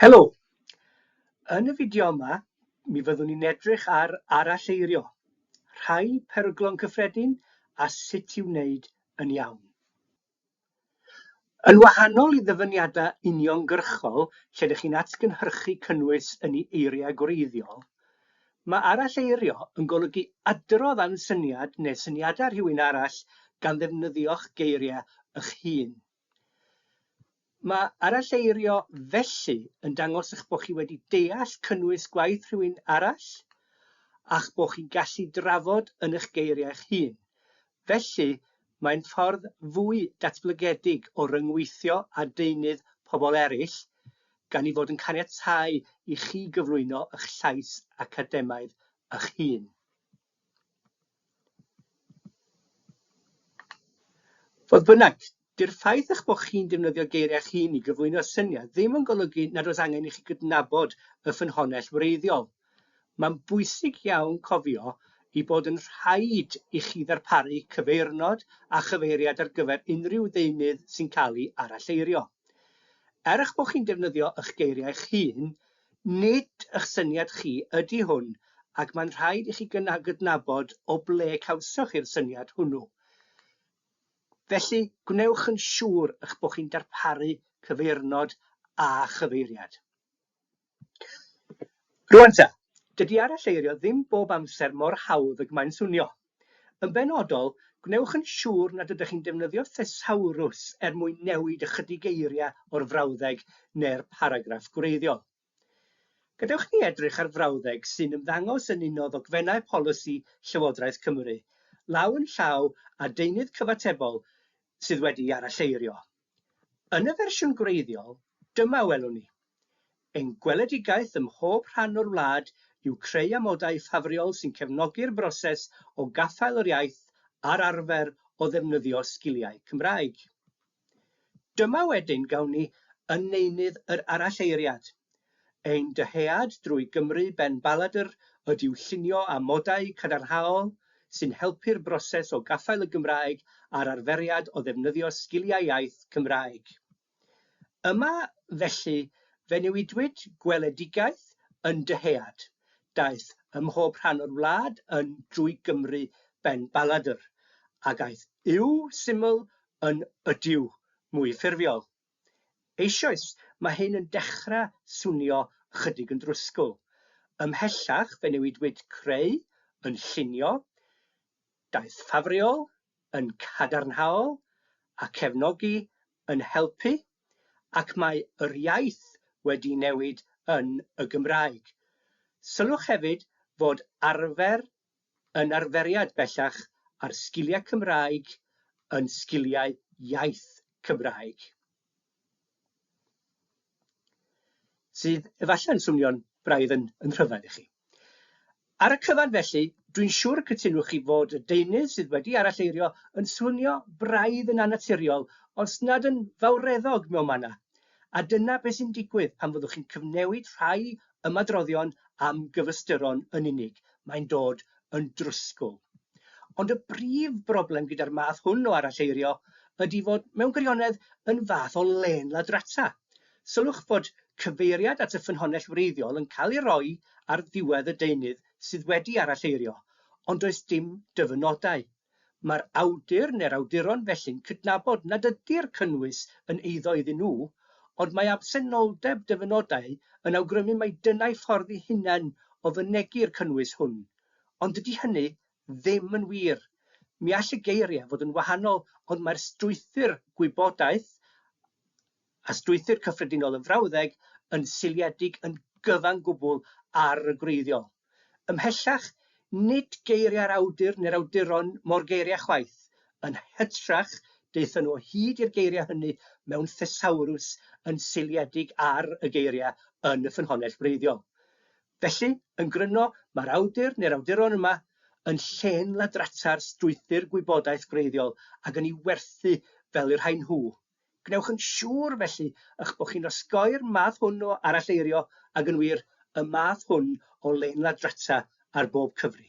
Helo! Yn y fideo yma, mi fyddwn ni'n edrych ar aralleirio, rhai peryglon cyffredin a sut i'w wneud yn iawn. Yn wahanol i ddyfyniadau uniongyrchol lle dych chi'n atgynhyrchu cynnwys yn ei eiriau gwreiddiol, mae aralleirio yn golygu adrodd am syniad neu syniadau rhywun arall gan ddefnyddio'ch geiriau eich hun. Mae aralleirio felly yn dangos eich bod chi wedi deall cynnwys gwaith rhywun arall a'ch bod chi'n gallu drafod yn eich geiriau eich hun. Felly, mae'n ffordd fwy datblygedig o ryngweithio â deunydd pobl eraill, gan ei fod yn caniatáu i chi gyflwyno eich llais academaidd eich hun. Fodd bynnag, dyw'r ffaith eich bod chi'n defnyddio geiriau eich hun i gyflwyno syniad ddim yn golygu nad oes angen i chi gydnabod y ffynhonnell wreiddiol. Mae'n bwysig iawn cofio ei bod yn rhaid i chi ddarparu cyfeirnod a chyfeiriad ar gyfer unrhyw ddeunydd sy'n cael ei aralleirio. Er eich bod chi'n defnyddio eich geiriau eich hun, Nid ych syniad chi ydy hwn ac mae'n rhaid i chi gydnabod o ble cawsoch chi'r syniad hwnnw. Felly, gwnewch yn siŵr eich bod chi'n darparu cyfeirnod a chyfeiriad. Rwan ta, dydy aralleirio ddim bob amser mor hawdd ag mae'n swnio. Yn benodol, gwnewch yn siŵr nad ydych chi'n defnyddio thesawrws er mwyn newid ychydig eiriau o'r frawddeg neu'r paragraff gwreiddiol. Gadewch i ni edrych ar frawddeg sy'n ymddangos yn un o ddogfennau polisi Llywodraeth Cymru, law yn llaw â deunydd cyfatebol sydd wedi'i aralleirio. Yn y fersiwn gwreiddiol, dyma a welwn ni, Ein gweledigaeth ym mhob rhan o'r wlad yw creu amodau ffafriol sy'n cefnogi'r broses o gaffael yr iaith a'r arfer o ddefnyddio sgiliau Cymraeg. Dyma wedyn, gawn ni, yn neunydd yr aralleiriad. Ein dyhead drwy Gymru ben baladr ydyw llunio amodau cadarnhaol sy'n helpu'r broses o gaffael y Gymraeg a'r arferiad o ddefnyddio sgiliau iaith Cymraeg. Yma, felly, fe newidwyd gweledigaeth yn dyhead, daeth ymhob rhan o'r wlad yn drwy Gymru ben baladr, ag aeth yw syml yn ydyw mwy ffurfiol. Eisoes, mae hyn yn dechrau swnio ychydig yn drwsgl. Ymhellach fe newidwyd creu yn llunio, daeth ffafriol yn cadarnhaol a cefnogi yn helpu, ac mae yr iaith wedi newid yn y Gymraeg. Sylwch hefyd fod arfer yn arferiad bellach ar sgiliau Cymraeg yn sgiliau iaith Cymraeg. Sydd efallai'n swnio'n braidd yn yn rhyfedd i chi. Ar y cyfan felly, dwi'n siŵr y cytunwch chi fod y deunydd sydd wedi aralleirio yn swnio braidd yn annaturiol os nad yn fawreddog mewn manna, a dyna beth sy'n digwydd pan fyddwch chi'n cyfnewid rhai ymadroddion am gyfystyron yn unig, mae'n dod yn drwsgl. Ond y brif broblem gyda'r math hwn o aralleirio ydy fod mewn gwirionedd yn fath o lên ladrata. Sylwch fod cyfeiriad at y ffynhonnell wreiddiol yn cael ei roi ar ddiwedd y deunydd sydd wedi aralleirio, ond does dim dyfynodau Mae'r awdur neu'r awduron felly'n cydnabod nad ydy'r cynnwys yn eiddo iddyn nhw, ond mae absenoldeb dyfynodau yn awgrymu mai dyna'u ffordd eu hunain o fynegi'r cynnwys hwn. Ond dydy hynny ddim yn wir. Mi all y geiriau fod yn wahanol ond mae'r strwythur gwybodaeth a a strwythur cyffredinol y frawddeg yn seiliedig yn gyfan gwbl ar y gwreiddiol. Ymhellach, nid geiriau'r awdur neu'r awduron mo'r geiriau chwaith, yn hytrach, daethon nhw o hyd i'r geiriau hynny mewn thesawrws yn seiliedig ar y geiriau yn y ffynhonnell wreiddiol. Felly, yn gryno, mae'r awdur neu'r awduron yma yn llên ladrata'r strwythur gwybodaeth gwreiddiol ac yn ei werthu fel y rhain nhw, Gwnewch yn siŵr, felly, eich bod chi'n osgoi'r math hwn o aralleirio ag yn wir, y math hwn o lein-ladrata ar bob cyfri.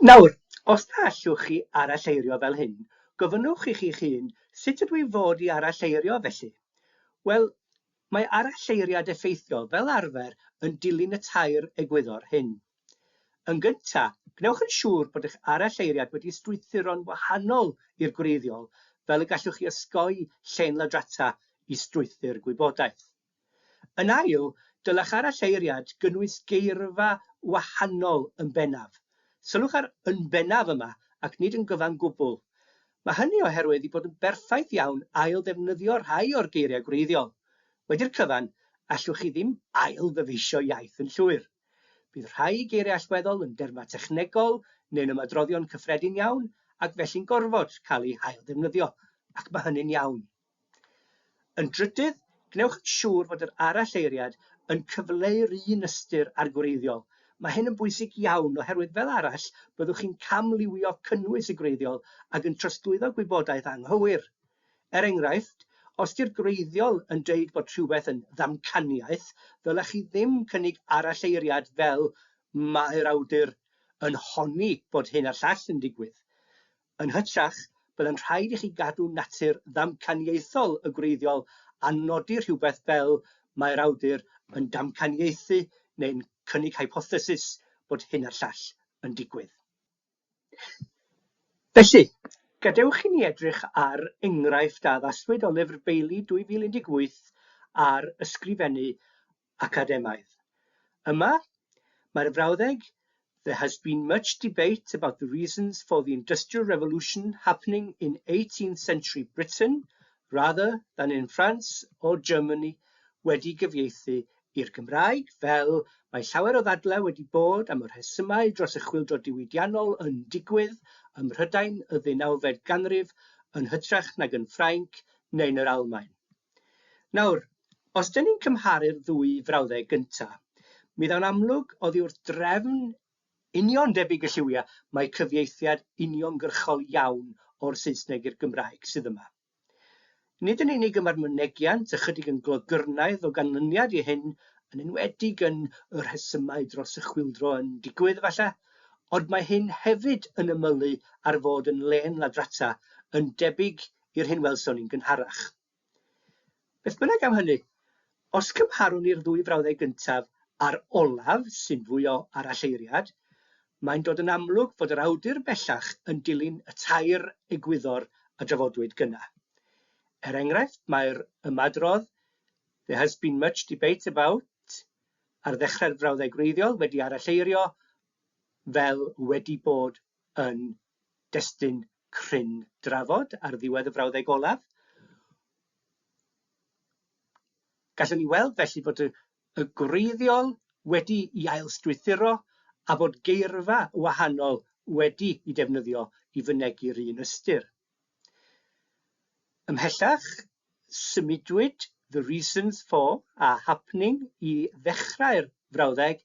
Nawr, os na allwch chi aralleirio fel hyn, gofynnwch i chi'ch hun, 'Sut ydw i fod i aralleirio, felly? Wel, mae aralleiriad effeithiol, fel arfer, yn dilyn y tair egwyddor hyn. Yn gyntaf, gwnewch yn siŵr bod eich aralleiriad wedi strwythuro'n wahanol i'r gwreiddiol fel y gallwch chi osgoi llên ladrata i strwythur gwybodaeth. Yn ail, dylech aralleiriad gynnwys geirfa wahanol yn bennaf. Sylwch ar 'yn bennaf' yma ac nid 'yn gyfan gwbl'. Mae hynny oherwydd ei bod yn berffaith iawn ail-ddefnyddio rhai o'r geiriau gwreiddiol. Wedi'r cyfan, allwch chi ddim ail-ddyfeisio iaith yn llwyr. Bydd rhai geiriau allweddol yn dermau technegol neu'n ymadroddion cyffredin iawn ac felly'n gorfod cael eu hailddefnyddio, ac mae hynny'n iawn. Yn drydydd, gwnewch yn siŵr fod yr aralleiriad yn cyfleu'r un ystyr â'r gwreiddiol. Mae hyn yn bwysig iawn oherwydd fel arall byddwch chi'n camliwio cynnwys y gwreiddiol ac yn trosglwyddo gwybodaeth anghywir. Er enghraifft, os 'di'r gwreiddiol yn deud bod rhywbeth yn ddamcaniaeth, ddylech chi ddim cynnig aralleiriad fel 'mae'r awdur yn honni bod hyn a'r llall yn digwydd'. Yn hytrach, byddai'n rhaid i chi gadw natur ddamcaniaethol y gwreiddiol a nodi rhywbeth fel 'mae'r awdur yn damcaniaethu neu'n cynnig hypothesis bod hyn a'r llall yn digwydd'. Felly, gadewch i ni edrych ar enghraifft a addaswyd o Lyfr Bailey 2018 ar ysgrifennu academaidd. Yma, mae'r frawddeg There has been much debate about the reasons for the Industrial Revolution happening in eighteenth century Britain rather than in France or Germany wedi gyfieithu i'r Gymraeg, fel mae llawer o ddadlau wedi bod am y rhesymau dros y chwyldro diwydiannol yn digwydd ym Mhrydain y ddeunawfed ganrif yn hytrach nag yn Ffrainc neu'n yr Almaen. Nawr, os dŷn ni'n cymharu'r ddwy frawddeg gynta', mi ddaw'n amlwg oddi wrth drefn union debyg y lliwiau mai cyfieithiad uniongyrchol iawn o'r Saesneg i'r Gymraeg sydd yma. Nid yn unig y mae'r mynegiant ychydig yn glogyrnaidd o ganlyniad i hyn, yn enwedig yn y rhesymau dros y chwyldro yn digwydd, efallai, ond mae hyn hefyd yn ymylu ar fod yn lên ladrata, yn debyg i'r hyn welson ni'n gynharach. Beth bynnag am hynny, os cymharwn ni'r ddwy frawddeg gyntaf a'r olaf, sy'n fwy o aralleiriad, mae'n dod yn amlwg fod yr awdur bellach yn dilyn y tair egwyddor a drafodwyd gynna'. Er enghraifft, mae'r ymadrodd 'There has been much debate about' ar ddechrau'r frawddeg wreiddiol wedi aralleirio fel 'wedi bod yn destun cryn drafod ar ddiwedd y frawddeg olaf. Gallwn ni weld felly fod y, y gwreiddiol wedi i ailstrwythuro a fod geirfa wahanol wedi i defnyddio i fynegi'r un ystyr. Ymhellach, symudwyd the reasons for a happening i ddechrau'r frawddeg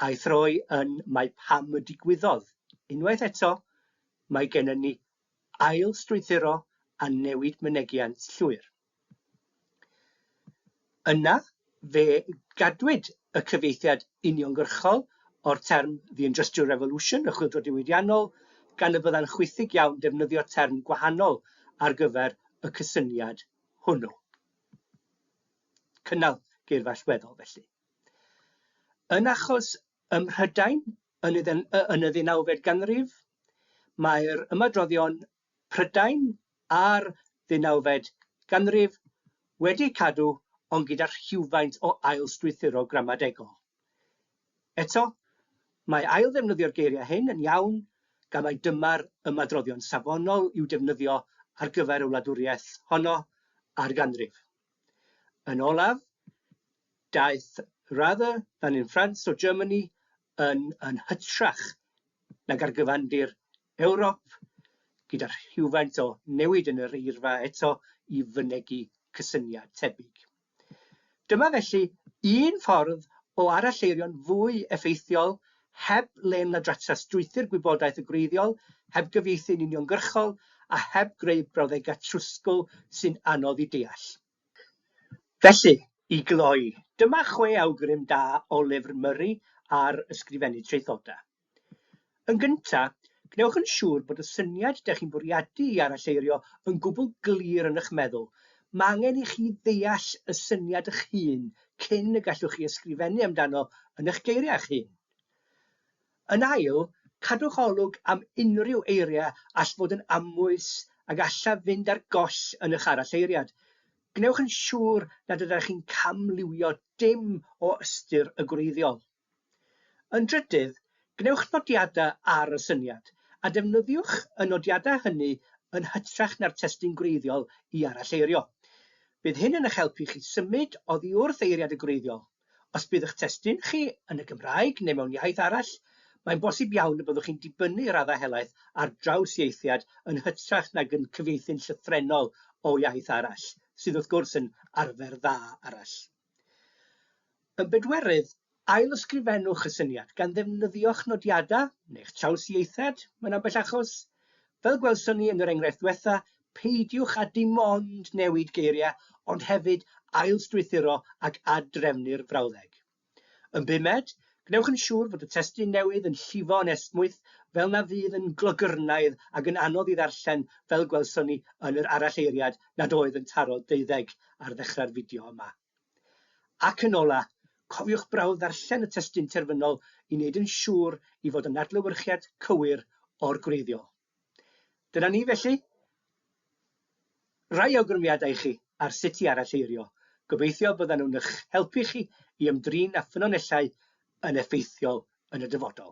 a'i throi yn mae pam y digwyddodd. Unwaith eto, mae gennym ni ail-strwythuro a newid mynegiant llwyr. Yna, fe gadwyd y cyfieithiad uniongyrchol o'r term The Industrial Revolution, y Chwyldro Diwydiannol, gan y byddai'n chwithig iawn defnyddio term gwahanol ar gyfer y cysyniad hwnnw. Cynnal geirfa allweddol, felly. Yn achos ym Mhrydain yn y ddeunawfed ganrif, mae'r ymadroddion Prydain a'r ddeunawfed ganrif wedi cadw ond gyda rhywfaint o ail-strwythuro gramadegol. Eto, mae ail-ddefnyddio'r geiriau hyn yn iawn gan mai dyma'r ymadroddion safonol i'w defnyddio ar gyfer y wladwriaeth honno a'r ganrif. Yn olaf, daeth 'rather than in France or Germany' yn yn hytrach nag ar gyfandir Ewrop, gyda rhywfaint o newid yn yr eirfa eto i fynegi cysyniad tebyg. Dyma felly un ffordd o aralleirio'n fwy effeithiol heb lên ladrata strwythur gwybodaeth y gwreiddiol, heb gyfieithu'n uniongyrchol a heb greu brawddegau trwsgl sy'n anodd i deall. Felly, i gloi, dyma chwe awgrym da o lyfr Murray ar ysgrifennu traethodau. Yn gyntaf, gwnewch yn siŵr bod y syniad dych chi'n bwriadu i aralleirio yn gwbl glir yn eich meddwl. Mae angen i chi ddeall y syniad eich hun cyn y gallwch chi ysgrifennu amdano yn eich geiriau eich hun. Yn ail, cadwch olwg am unrhyw eiriau all fod yn amwys a gallaf fynd ar goll yn eich aralleiriad. Gwnewch yn siŵr nad ydych chi'n camliwio dim o ystyr y gwreiddiol. Yn drydydd, gwnewch nodiadau ar y syniad, a defnyddiwch y nodiadau hynny yn hytrach na'r testun gwreiddiol i aralleirio. Bydd hyn yn eich helpu chi symud oddi wrth eiriad y gwreiddiol. Os bydd eich testun chi yn y Gymraeg neu mewn iaith arall, mae'n bosib iawn y byddwch chi'n dibynnu i raddau helaeth ar drawsieithiad yn hytrach nag yn cyfieithu'n llythrennol o iaith arall, sydd wrth gwrs yn arfer dda arall. Yn bedwerydd, ail-ysgrifennwch y syniad gan ddefnyddio'ch nodiadau neu'ch trawsieithiad mewn ambell achos. Fel gwelson ni yn yr enghraifft ddiwetha', peidiwch â dim ond newid geiriau ond hefyd ailstrwythuro ac ad-drefnu'r frawddeg. Yn bumed, gwnewch yn siŵr fod y testun newydd yn llifo yn esmwyth fel na fydd yn glogyrnaidd ac yn anodd ei ddarllen fel gwelson ni yn yr aralleiriad nad oedd yn taro deuddeg ar ddechrau'r fideo yma. Ac yn ola, cofiwch brawf ddarllen y testun terfynol i wneud yn siŵr i fod yn adlewyrchiad cywir o'r gwreiddiol. Dyna ni felly. Rai awgrymiadau i chi ar sut i aralleirio. Gobeithio byddan nhw'n eich helpu chi i ymdrin â ffynonellau yn effeithiol yn y dyfodol.